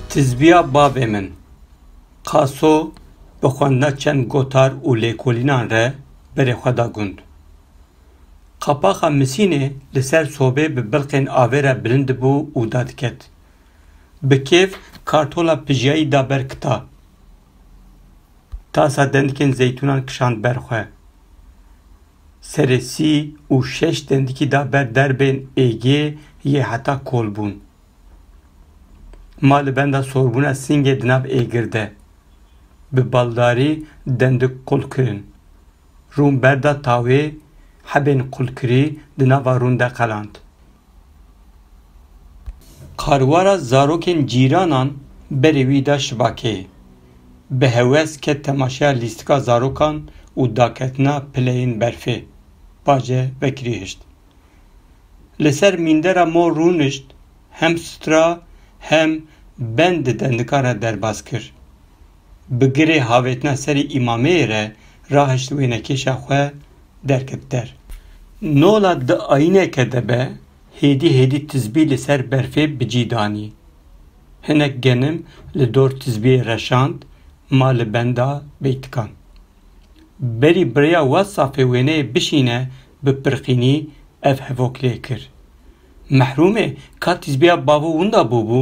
Tizbiya bavê min, Qaso bi xwendina çend gotar û lêkolînan re berê xwe da gund. Qapaxa Misînê li ser sobê bi bilqên avê re bilind dibû û dadiket. Bi kêf kartola pijiyayî da ber kita. Tasa dendikên zeytûnan kişand ber xwe. Serê sî û şeş dendikî da ber derbên êgê yê heta kol bûn. Ma li benda sorbûna singê di nav êgir de. Bi baldarî dendik qul kirin. Rûn berda tawê hebên qulkirî di nava rûn de qeland. Qarwara zarokên cîranan berê wî da şibakeyê. Bi hewes ket temaşeya lîstika zarokan û daketina pileyên berfê. Pace vekirî hişt. Li ser mîndera mor rûnişt, hem stra hem bend di dendikara derbas kir. bi girê havêtina serê îmameyê re rahişt wênekêşa xwe derket der. Nola di ayîneke de be hêdî hêdî tizbî li ser berfê bi cî danî. Hinek genim li dor tizbiyê reşand ma li benda beytikan. Berî bi rêya WhatsAppê wêneyê bişîne bi pirqînî ev hevok lê kir. Mehrûmê ka tizbiya bavû winda bûbû?